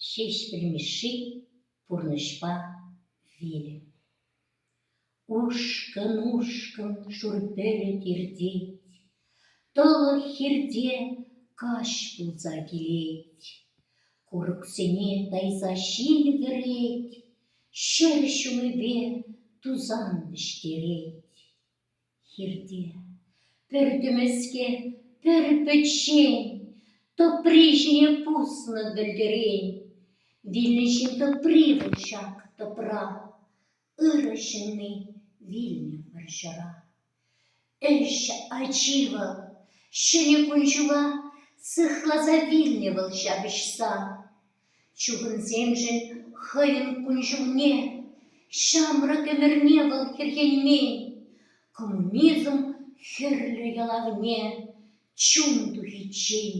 Ҫеҫпӗл Мишши пурнӑҫпа вилӗ. Ушкӑн-ушкӑн шур пӗлӗт иртет, Тӑлӑх хирте каҫ пулса килет. Курӑксене тайса ҫил кӗрет, Ҫӗр ҫумӗпе тусан вӗҫтерет. Хирте пӗр тӗмӗске, пӗр пӗччен, тӑпри ҫине пуснӑ вӗлтӗрен. Вилнӗ ҫын тӑпри вӑл ҫак тӑпра, ырӑ ҫынни вилнӗ вӑрҫӑра. Ӗҫ ачи вӑл, ҫӗнӗ кун-ҫула сыхласа вилнӗ вӑл ҫапӑҫса. Чухӑнсемшӗн хӑйӗн кун-ҫулне, ҫамрӑк ӗмӗрне вӑл хӗрхенмен, коммунизм хӗрлӗ ялавне чун тухиччен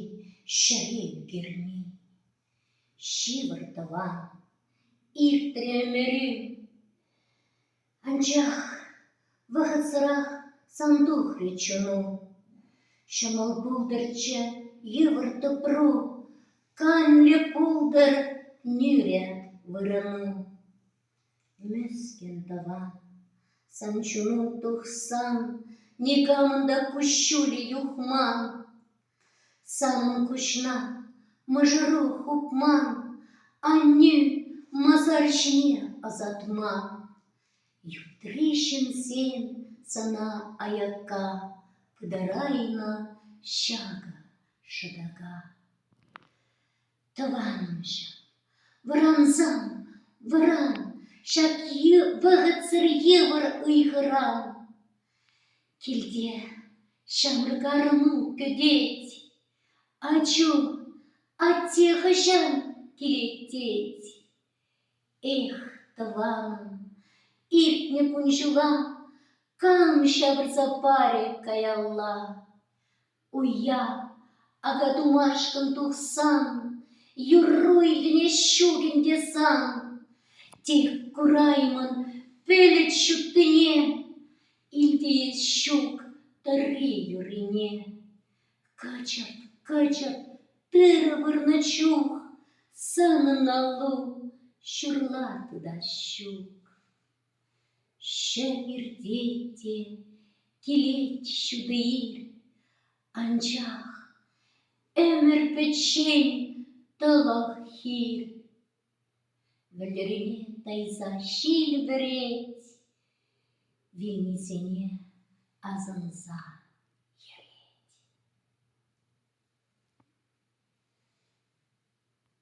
ҫӗре ӳкермен. Ҫывӑр тӑван, иртрӗ ӗмӗрӳ. Анчах вӑхӑтсӑрах сан тухрӗ чуну. Ҫӑмӑл пултӑрччӗ йывӑр тӑпру, Канлӗ пултӑр нӳрӗ вырӑну. Мӗскӗн тӑва, сан чуну тухсан, Никамӑн та куҫҫулӗ юхман. Санӑн куҫна мӑшӑру хупма, аннӳ масар ҫине ӑсатма, Ютри ҫынсем сана аякка пытарайнӑ ҫакӑ шӑтака. Тӑванӑмҫӑм, вӑрансам, вӑран, ҫак вӑхӑтсӑр йывӑр ыйхӑран. Килте ҫамрӑк-арӑму кӗтет. Ачу, атте хӑҫан килет тет. Эх, тӑванӑм, иртнӗ кун ҫула кам ҫавӑрса парӗ каялла. Уя, акатумашкӑн тухсан, юрру илтӗнес ҫук ӗнтӗ сан. Тен, кураймӑн пӗлӗт ҫуттине, илтӗнет ҫук тӑрри юррине. Кӑчӑрт, кӑчӑрт тырӑ вырнӑ чух санӑн аллу ҫурла тытас ҫук. Шел иртет те, килет ҫутӑ ил, Анчах ӗмӗр пӗччен тӑлӑх хир. Вӗлтӗрме тайса ҫил вӗрет, Вилнисене асӑнса йӗрет.